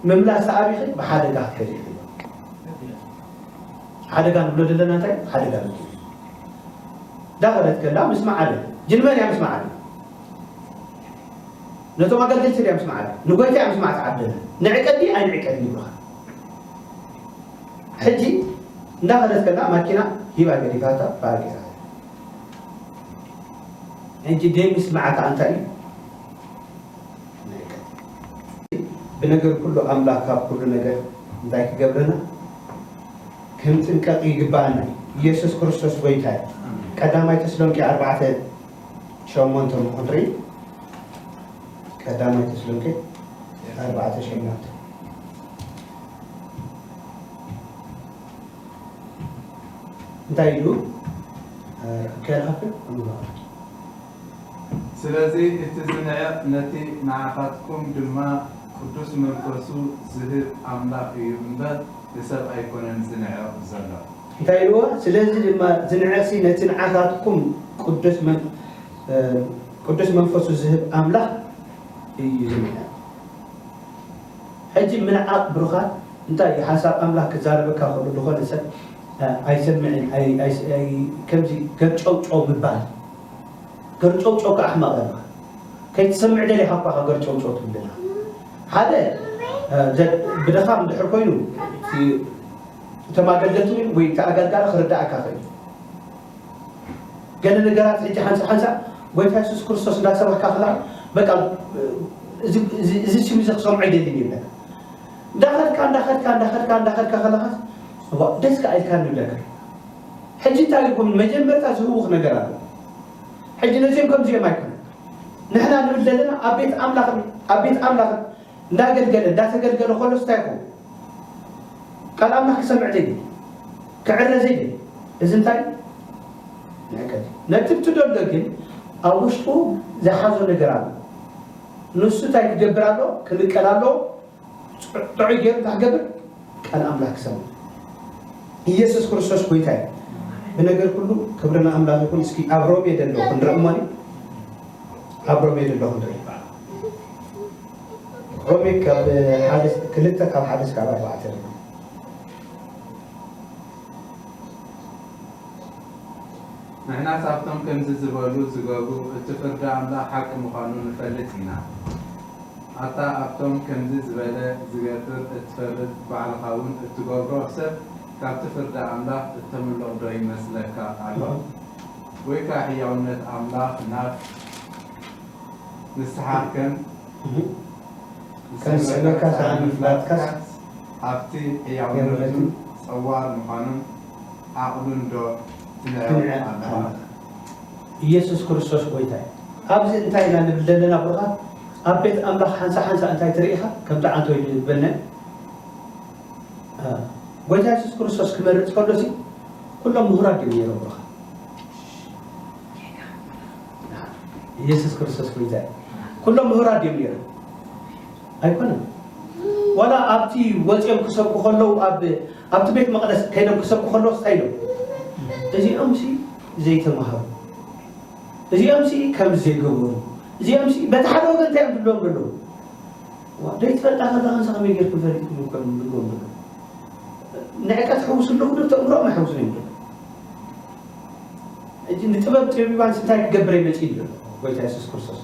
ምምላሳ ኣቢኺ ብሓደጋ ክትከዲ ኢኺ ሓደጋ ንብሎ ዘለና እንታይ ሓደጋ ን ዳኸለት ከላ ምስ መዓለ ጅንመን እያ ምስ መዓለ ነቶም ኣገልገልቲ ድያ ምስ መዓለ ንጎይታ እያ ምስ መዓት ዓደለ ንዕቀዲ ኣይንዕቀድ ይብልኻ ሕጂ እንዳኸደት ከላ ማኪና ሂባ ገዲፋታ ባረቂታ ሕጂ ደይ ምስማዕካ ኣንታይ እዩ ምልክት። ብነገር ኩሉ ኣምላክ ካብ ኩሉ ነገር እንታይ ክገብረና ክንጥንቀቅ ይግበኣና እዩ ኢየሱስ ክርስቶስ ጎይታ እዩ ቀዳማይ ተስሎንቄ ኣርባዕተ ሸሞንተ እሞ ክንርኢ ቀዳማይ ተስሎንቄ ኣርባዕተ ሸሞንተ እንታይ ኢሉ ከይረኸብክ ስለዚ እቲ ዝንዕቕ ነቲ ንዓኻትኩም ድማ ቅዱስ መንፈሱ ዝህብ ኣምላኽ እዩ እምበር ንሰብ ኣይኮነን ዝንዕቕ ዘሎ። እንታይ ኢልዎ ስለዚ ድማ ዝንዕቕሲ ነቲ ንዓኻትኩም ቅዱስ መንፈሱ ዝህብ ኣምላኽ እዩ ዝንዕቕ። ሕጂ ምንዓቅ ብሩኻት እንታይ እዩ ሓሳብ ኣምላኽ ክዛረበካ ከሎ ልኾነ ሰብ ኣይሰምዕን ኣይ ከምዚ ገርጨውጨው ምባል ገርጨውጨው እካ ኣሕማቅ እያ እባ ከይትሰምዕ ደሊኻ እኳ ኢኻ ገርጨውጨው ትብለና ሓደ ብደኻም እንድሕር ኮይኑ እቲ እቶም ኣገልገልቲ ወይ እቲ ኣገልጋሊ ክርዳኣካ ይኽእል እዩ ገለ ነገራት ሕጂ ሓንሳእ ሓንሳእ ጎይታ የሱስ ክርስቶስ እንዳ ሰበኽካ ከለኻ በቃ እዚ እዚ ስም እዚ ክሰምዖ ኣይደልን ይብለካ እንዳ ኸድካ እንዳ ኸድካ እንዳ ኸድካ እንዳ ኸድካ ከለኻ እዋ ደስ ከኣ ኢልካኒ ይብለካ ሕጂ እንታይ ይኹን መጀመርታ ዝህውኽ ነገር ኣሎ ሕጂ ነዚኦም ከምዚኦም ኣይኮነ ንሕና ንብል ዘለና ኣብ ቤት ኣምላኽ ኣብ ቤት ኣምላኽ እንዳገልገለ እንዳተገልገለ ከሎስ እንታይ ይኸውን ቃል ኣምላኽ ክሰምዕ ዘይደሊ ክዕረ ዘይደሊ እዚ እንታይ እዩ ንዕቀት እዩ ነቲ እትደሎ ግን ኣብ ውሽጡ ዝሓዞ ነገር ኣሎ ንሱ እንታይ ክገብር ኣሎ ክንቀል ኣሎ ጥዑይ ገይሩ እንታይ ክገብር ቃል ኣምላኽ ክሰምዕ ኢየሱስ ክርስቶስ ጎይታ እዩ ብነገር ኩሉ ክብሪ ንኣምላኽ ይኹን እስኪ ኣብ ሮሜ ደሎ ክንርኢ እሞኒ ኣብ ሮሜ ደሎ ክንርኢ ሮሜ ካብ ሓደ ክልተ ካብ ሓደ እስካብ ኣርባዕተ ንሕናስ ኣብቶም ከምዚ ዝበሉ ዝገብሩ እቲ ፍርዲ ኣምላኽ ሓቂ ምዃኑ ንፈልጥ ኢና። ኣታ ኣብቶም ከምዚ ዝበለ ዝገብር እትፈርድ ባዕልኻውን እትገብሮ ሰብ ካብቲ ፍርዲ ኣምላኽ እተምልቕዶ ይመስለካ ኣሎ? ጐይታ ሕያውነት ኣምላኽ ናብ። ንስኻ ከም ዝስዕበካ ሰኣን ምፍላጥካስ ሃብቲ ሕያውነቱን ጸዋር ምዃኑን ዓቕሉን ዶ ትንዕቕ ኣለኻ? ኢየሱስ ክርስቶስ ጎይታ እዩ። ኣብዚ እንታይ ኢና ንብል ዘለና ብሩኻት? ኣብ ቤት ኣምላኽ ሓንሳ ሓንሳ እንታይ ትርኢኻ? ከም ጠዓንቶ እዩ ዝበልና ጎይታ ኢየሱስ ክርስቶስ ክመርጽ ከሎሲ ኩሎም ምሁራት ድዮም ነይሮም ብሩኻት? ኢየሱስ ክርስቶስ ጎይታይ ኩሎም ምሁራት ድዮም ነይሮም ኣይኮነን ዋላ ኣብቲ ወፂኦም ክሰብኩ ከለዉ ኣብቲ ቤት መቕደስ ከይዶም ክሰብኩ ከለዉ ስታይ ኢሎም እዚኦም ሲ ዘይተማሃሩ እዚኦም ሲ ከም ዘይገበሩ እዚኦም ሲ በቲ ሓደ ወገን እንታይ እዮም ዝብሎም ዘለዉ ዘይትፈልጣ ከለካ ንሳ ከመይ ጌርኩም ፈሊጥኩም ይኮኑ ዝብሎም ዘለዉ ንዕቀት ሕውሱ ኣለኹ ዶ ተእምሮም ኣይሕውሱን እዮም ሕጂ ንጥበብ ጠቢባንሲ እንታይ ክገብር እየ መጺኡ ኣሎ ጎይታ የሱስ ክርስቶስ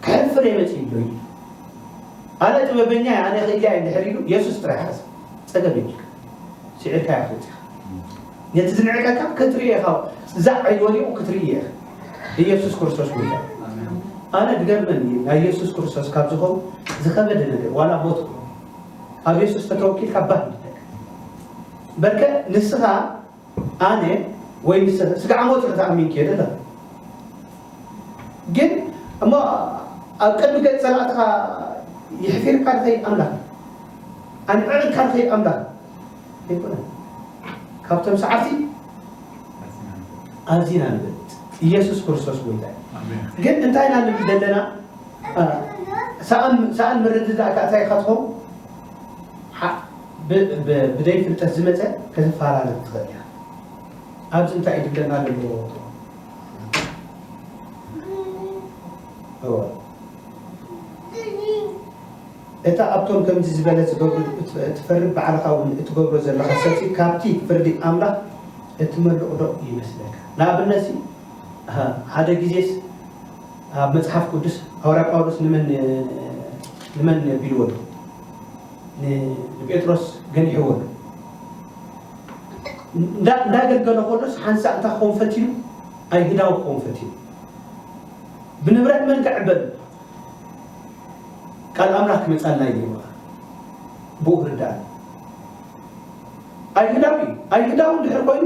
ከሕፍር እየ መጺኡ ኣሎ ኢሉ ኣነ ጥበበኛ እየ ኣነ ክእልያ እየ ድሕር ኢሉ የሱስ ጥራይ ሓዝ ጸገም የብልካ ስዒርካ እያ ክትወጽእ ነቲ ዝንዕቀካ ክትርኢ ኢኻ ዛዕ ኢሉ ወዲቑ ክትርኢ ኢኻ ኢየሱስ ክርስቶስ ጎይታ ኣነ ዝገርመኒ ናይ ኢየሱስ ክርስቶስ ካብ ዝኾኑ ዝኸበደ ነገር ዋላ ሞት ኣብ ኢየሱስ ተተወኪልካ ባህ በርከ ንስኻ ኣነ ወይ ንሰ ስጋዕ ሞት ኢኺ ትኣሚንኪ እየ ደለ ግን እሞ ኣብ ቅድሚ ገጽ ጸላእትኻ ይሕፊርካ ድኸይድ ኣምላኽ ኣንዕዕካ ድኸይድ ኣምላኽ ኣይኮነን ካብቶም ሰዓርቲ ኣዚና ንብል ኢየሱስ ክርስቶስ ጎይታ እዩ ግን እንታይ ኢና ንብል ዘለና ሰኣን ምርድዳእ ካእታይ ኸትኾም ብ ብ ብደይ ፍልጠት ዝመጸ ከተፋራርድ ትኽእል ኢኻ ኣብዚ እንታይ እዩ ድገና ደለዎ እወ እታ ኣብቶም ከምዚ ዝበለ ዝገብሩ እትፈርድ ባዕልኻ እውን እትገብሮ ዘለኻ ሰብሲ ካብቲ ፍርዲ ኣምላኽ እትመልቕ ዶ ይመስለካ ንኣብነት ሲ ሓደ ግዜስ ኣብ መጽሓፍ ቅዱስ ሃዋርያ ጳውሎስ ንመን ንመን ቢልዎ ኣሎ ንጴጥሮስ ገኒሕዎ ኣሎ። እንዳገልገሎ ከሎስ ሓንሳእ እንታይ ክኸውን ፈቲኑ ኣይሁዳዊ ክኸውን ፈቲኑ ብንብረት መን ክዕበል ቃል ኣምላኽ ክመፃና እዩ ብኡ ክርዳእ ኣይሁዳዊ ኣይሁዳዊ እንድሕር ኮይኑ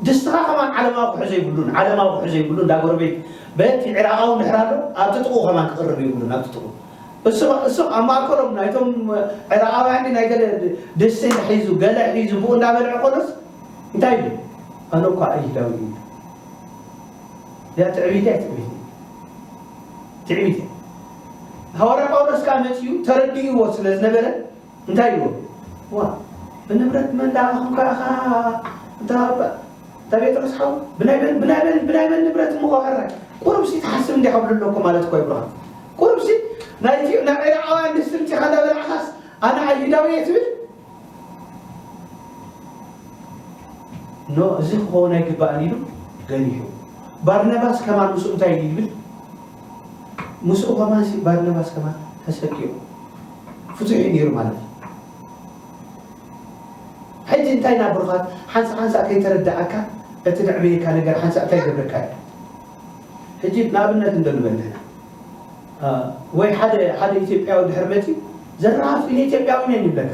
ደስትኻ ከማን ዓለማዊ ክሕዞ ይብሉን ዓለማዊ ክሕዞ ይብሉን እንዳ ጎረቤት በቲ ዕራቓዊ እንድሕር ኣሎ ኣብቲ ጥቑ ከማን ክቕርብ ይብሉን ኣብቲ ጥቑ እሶም እሶም ኣብ ማእከሎም ናይቶም ዕራቓውያን ድዩ ናይ ገለ ድስቲ ሒዙ ገለ ሒዙ ብኡ እንዳበልዐ ከሎስ እንታይ ይብል ኣነ እኳ ኣይሁዳዊ እየ ይብል እዚኣ ትዕቢት እያ ትዕቢት ትዕቢት እያ ሃዋርያ ጳውሎስ ከኣ መጺኡ ተረዲእዎ ስለ ዝነበረ እንታይ ኢልዎ ዋእ ብንብረት መን ዳኣኹም ካኣኻ እንታኣባ ታቤጥሮስ ሓው ብናይ መን ብናይ መን ብናይ መን ንብረት እሞ ዋዕራይ ቁሩብሲ ትሓስብ እንዲያ ክብሉ ኣለኩ ማለት እኮ ይብርሃን ቁሩብሲ ናይ ኢትዮ ናይ ዒራቃውያን ድስቲ ምጺኻ እንዳበላዕኻስ ኣነ ኣይሁዳዊ እየ ትብል ኖ እዚ ክኸውን ኣይግባእን ኢሉ ገኒሑ ባርናባስ ከማን ምስ እንታይ ይብል ምስኡ ከማንሲ ባርናባስ ከማን ተሰቅዩ ፍቱሕ እዩ ነይሩ ማለት እዩ። ሕጂ እንታይ ኢና ብሩኻት ሓንሳእ ሓንሳእ ከይተረድኣካ እቲ ነዕብየካ ነገር ሓንሳእ እንታይ ይገብረካ እዩ ሕጂ ንኣብነት እንዶ ንበል ንሕና አ፣ ወይ ሓደ ሓደ ኢትዮጵያዊ ድሕሪ መጺኡ ዘራፍ ኢነ ኢትዮጵያዊ ነን ይብለካ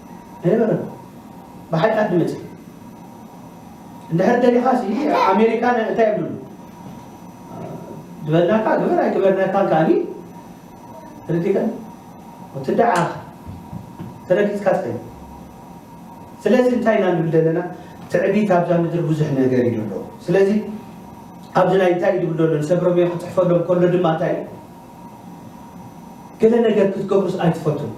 ኣይነበረን ብሓቂ ኣዲ መጽ እንድሕር ደሊኻ ሲ ኣሜሪካ እንታይ ይብሉ ዝበልናካ ግበር ኣይግበርናካን ከዓኒ ተረዲእካ ወትዳዓ ተረጊጽካ ትኸ ስለዚ እንታይ ኢና ንብል ዘለና ትዕቢት ኣብዛ ምድሪ ብዙሕ ነገር እዩ ዘሎ ስለዚ ኣብዚ ናይ እንታይ ድብል ዘሎ ንሰብረመዮ ክፅሕፈሎም ከሎ ድማ እንታይ ገለ ነገር ክትገብሩስ ኣይትፈቱን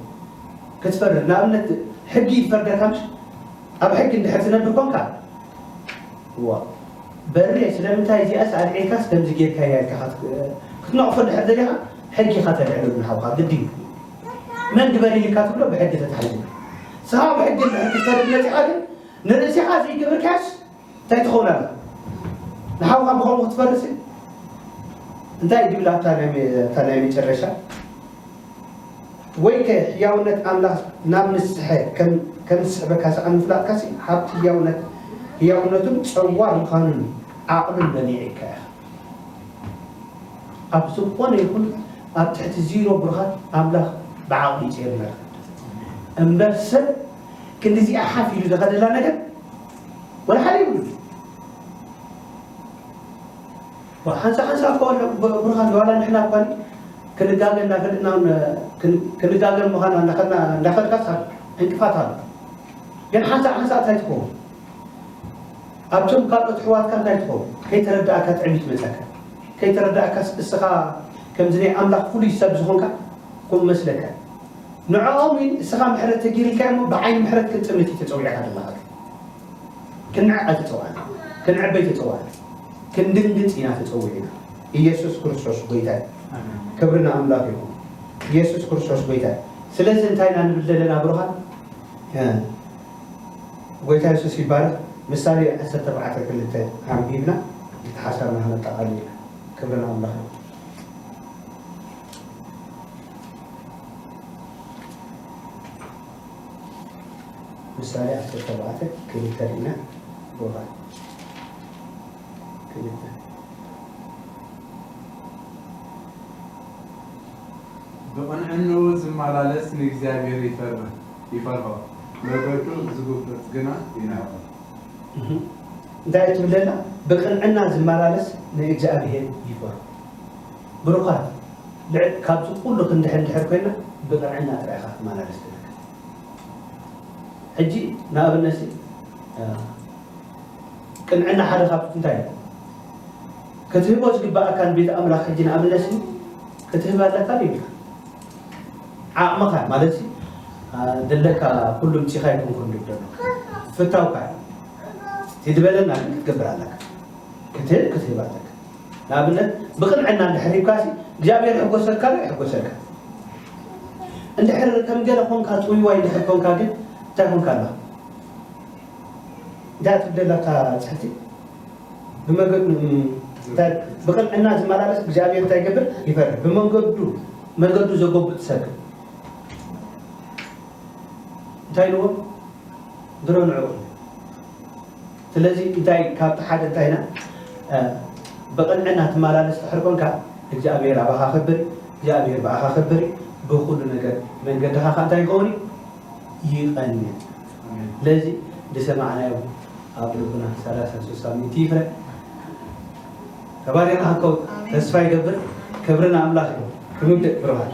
ክትፈርድ ንኣብነት ሕጊ ይፈርደካ ምሽ ኣብ ሕጊ እንድሕር ትነብር ኮንካ ዋ በሬ ስለምንታይ እዚኣስ ኣልዒልካስ ከምዚ ጌርካያ ኢልካ ክትነቕፎ እንድሕር ደሊኻ ሕጊ ኢኻ ተልዕሉ ንሓውካ ግዲ እዩ መን ግበሪ ኢልካ ትብሎ ብሕጊ ተታሒዙ ሰሃብ ሕጊ እንድሕር ክትፈርድ መፂኻ ግን ንርእስኻ ዘይገበርካያስ እንታይ ትኸውን ኣላ ንሓውካ ብኸምኡ ክትፈርስ እንታይ ድብል ኣብታ ናይ መጨረሻ ወይከ ህያውነት ኣምላኽ ናብ ንስሐ ከም ዝስዕበካ ሰኣን ምፍላጥካሲ ሃብቲ ህያውነት ህያውነቱን ጸዋር ምዃኑን ዓቕምን መኒዕካ ኢኻ ኣብ ዝኾነ ይኹን ኣብ ትሕቲ ዚሮ ብርሃን ኣምላኽ ብዓቕሊ ይጽየር እምበር ሰብ ክንዲዚኣ ሓፍ ኢሉ ዘኸደላ ነገር ወላ ሓደ የብሉን ሓንሳ ሓንሳ እኮ ብርሃን ዋላ ንሕና እኳ ክንጋገ እናፈለጥና ክንጋገ ምዃና እንዳኸድና እንዳፈልካስ ዕንቅፋት ኣሎ ግን ሓንሳ ሓንሳ እንታይ ትኸውን ኣብቶም ካልኦት ኣሕዋትካ እንታይ ትኸውን ከይተረዳእካ ትዕቢት መፀካ ከይተረዳእካስ እስኻ ከምዚ ናይ ኣምላኽ ፍሉይ ሰብ ዝኾንካ ከምኡ መስለካ ንዕኦም ውን እስኻ ምሕረት ተጌሪልካዮም እሞ ብዓይኒ ምሕረት ክንጥምት እዩ ተጸዊዕካ ዘለኻ ግን ክንዕቅ ኣይተጸዋዕናን ክንዕበይ ተጸዋዕና ክንድንግጽ ኢና ተጸዊዕና ኢየሱስ ክርስቶስ ጎይታ እዩ ክብሪ ንኣምላኽ ይኹን ኢየሱስ ክርስቶስ ጎይታ እዩ ስለዚ እንታይ ኢና ንብል ዘለና ብሩኻን ጎይታ የሱስ ይባረኽ ምሳሌ ዓሰርተ ኣርባዕተ ክልተ ኣንቢብና እቲ ሓሳብና ክነጠቓልል ኢና ክብሪ ንኣምላኽ ይኹን ምሳሌ ዓሰርተ ኣርባዕተ ክልተ ርኢና ቦታ ክልተ ብቕንዕንኡ ዝመላለስ ንእግዚኣብሔር ይፈርህ ይፈርሆ መገዱ ዝጉብጥ ግና ይንዕቆ። እንታይ ትብለና? ብቅንዕና ዝመላለስ ንእግዚኣብሔር ይፈርሆ ብሩኻት ልዕል ካብዚ ኩሉ ክንድሕን ድሕር ኮይና ብቅንዕና ጥራይ ኢኻ ክትመላለስ ትደክም ሕጂ ንኣብነት ሲ ቅንዕና ሓደ ካብ እንታይ እዩ ክትህቦ ዝግባኣካ ንቤት ኣምላኽ ሕጂ ንኣብነት ሲ ክትህብ ኣለካ ይብልካ ዓቕምኻ ማለት ሲ ደለካ ኩሉ ምጺኻ ይኩንኩን ድብ ደሎ ፍታውካ እዩ ትድበለና ግን ክትገብር ኣለካ ክትህብ ክትህብ ኣለካ ንኣብነት ብቕንዕና እንድሕር ሂብካሲ እግዚኣብሔር ይሕጎሰልካ ዶ ኣይሕጎሰልካን? እንድሕር ከም ገለ ኾንካ ጥውይዋይ እንድሕር ኾንካ ግን እንታይ ኾንካ ኣለኻ? እንታይ ትብደል ኣብታ ፅሕፍቲ ብመገዱ ብቕንዕና ዝመላለስ እግዚኣብሔር እንታይ ይገብር ይፈርድ ብመንገዱ መገዱ ዘጎብጥ ሰብ እንታይ ኢልዎ ድሮ ንዕኡ ስለዚ እንታይ ካብቲ ሓደ እንታይ ኢና ብቅንዕና ትማላለስ ድሕሪ ኮንካ እግዚኣብሄር ኣባኻ ክብር እዩ እግዚኣብሄር ብኣኻ ክብር እዩ ብኹሉ ነገር መንገድኻ ከኣ እንታይ ይኸውን እዩ ይቀንዕ ስለዚ ዝሰማዕናዮ ኣብ ልቡና ሰላሳን ስሳን ሚእቲ ይፍረ ተባሪና ክንከውን ተስፋ ይገብር ክብሪ ንኣምላኽ እዩ ክንውድእ ብሩኻት